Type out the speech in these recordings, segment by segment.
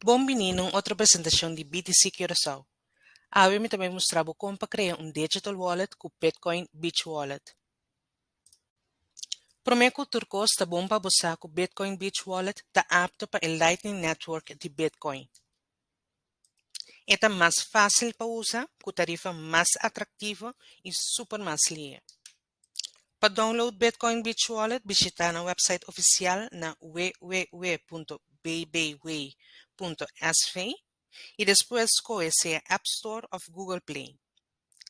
Bon bini na un otro presentacion di BTC Curaçao. Awe mi ta bai mustra bo con pa crea un digital wallet cu Bitcoin Beach Wallet. Prome cu tur cos ta bon pa bo sa cu Bitcoin Beach Wallet ta apto pa e Lightning Network di Bitcoin. E ta mas facil pa usa cu tarifa mas atractivo y super mas lie. Pa download Bitcoin Beach Wallet bishita nan website oficial na www.bbway.sv y despues scohe sea App Store of Google Play.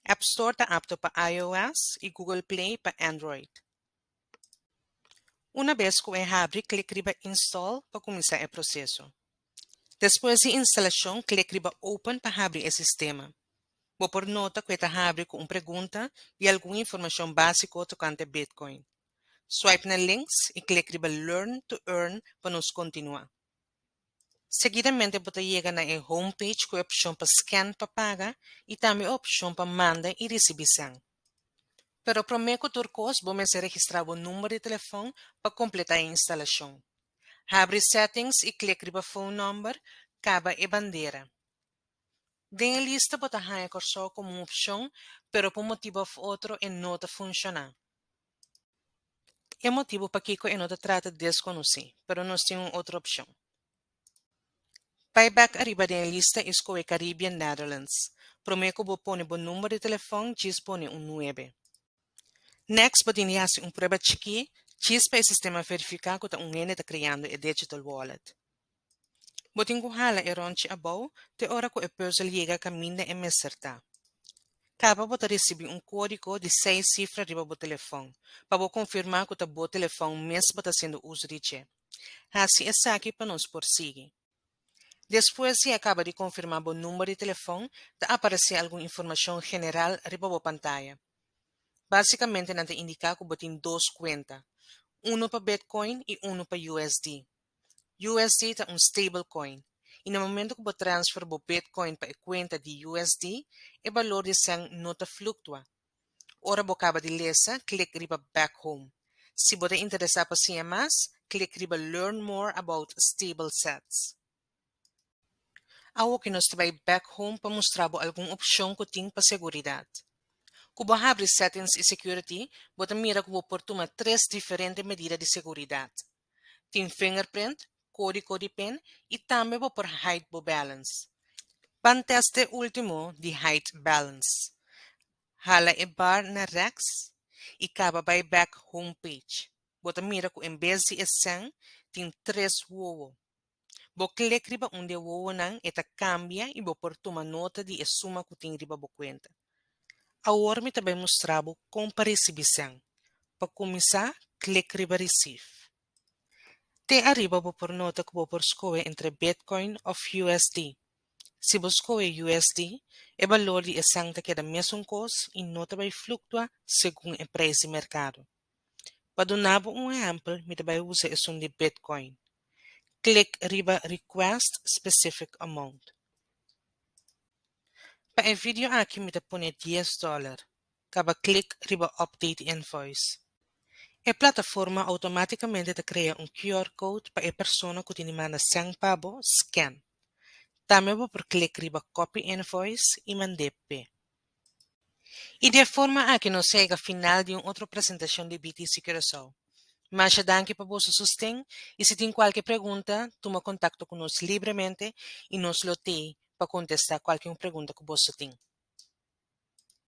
App Store ta apto pa iOS y Google Play pa Android. Una bes cu e habri clic riba Install pa cuminsa e proceso. Despues di instalashon, klik riba Open pa habri e sistema. Bo por nota ku e ta habri ku un pregunta i algun informashon básiko tokante Bitcoin. Swipe na links i klik riba Learn to Earn pa nos kontinuá. Seguidamente bo ta yega na e homepage ku e opshon pa scan pa paga i tambe e opshon pa manda i risibí sèn. Pero promé ku tur kos bo mester registrá bo number di telefon pa kompletá e instalashon. Habri Settings i klik riba Phone Number, kaba e bandera. Den e lista bo ta haña Kòrsou komo un opshon pero pa un motibu òf otro e no ta funshoná. E motibu pakiko e no ta trata deskonosí pero nos tin un otro opshon. Bai bek ariba den e lista i skohe Caribbean Netherlands. Promé ku bo pone bo number di telefòn, djis pone un nuebe. Next bo tin di hasi un prueba chikí djis pa e sistema verifiká ku ta un hende ta kreando e digital wallet. Bo tin ku hala e ròntji abou te ora ku e puzzle yega kaminda e mes sertá. Kaba bo ta risibí un kódigo di seis sifra riba bo telefòn pa bo konfirmá ku ta bo telefòn mes bo ta haciendo uso di dje. Hasi esaki pa nos por sigui. Despues di e kaba di konfirmá bo number di telefòn, ta aparesé algun informashon general riba bo pantaya. Básikamente nan ta indiká ku bo tin dos kuenta, unu pa Bitcoin i unu pa USD. USD ta un stablecoin, i na momento ku bo transfer bo Bitcoin pa e kuenta di USD, e balor di sèn no ta fluktua, Ora bo kaba di lesa, klik riba Back Home. Si bo ta interesá pa siña mas, klik riba Learn More About Stable Sets. Awoke nos ta bai Back Home pa mustra bo algun opshon ku tin pa seguridat. Ku bo habri Settings i Security, bo ta mira ku bo por tuma tres diferente medida di seguridat. Tin fingerprint, kódigo di pin i tambe bo por hide bo balance. Pan teste último di hide balance. Hala e bar na rex i kaba bai bèk homepage. Bo ta mira ku en bes di e sèn tin tres wowo. Bo klik riba un di e wowonan, e ta kambia i bo por tuma nota di e suma ku tin riba bo kuenta. Awor mi ta bai mustra bo kon pa risibi sèn. Pa kuminsá, klik riba Receive. Te ariba bo por nota ku bo por skohe entre Bitcoin òf USD. Si bo skohe USD, e balor di e sèn ta keda mesun kos i no ta bai fluktua segun e preis di merkado. Pa duna bo un ehempel, mi ta bai usa esun di Bitcoin. Klik riba Request Specific Amount. Pa e video aki mi ta pone dies dòler. Kaba klik riba Update Invoice. E plataforma outomátikamente ta krea un QR code pa e persona ku tin di manda sèn pa bo sken. Tambe bo por klik riba Copy Invoice i mand'é p'e. I di e forma aki nos sega final di un otro presentashon di BTC Curaçao. Masha danki pa boso sosten i si tin kualke pregunta, tuma kontakto ku nos libremente i nos lo tei pa kontestá kualke un pregunta ku boso tin.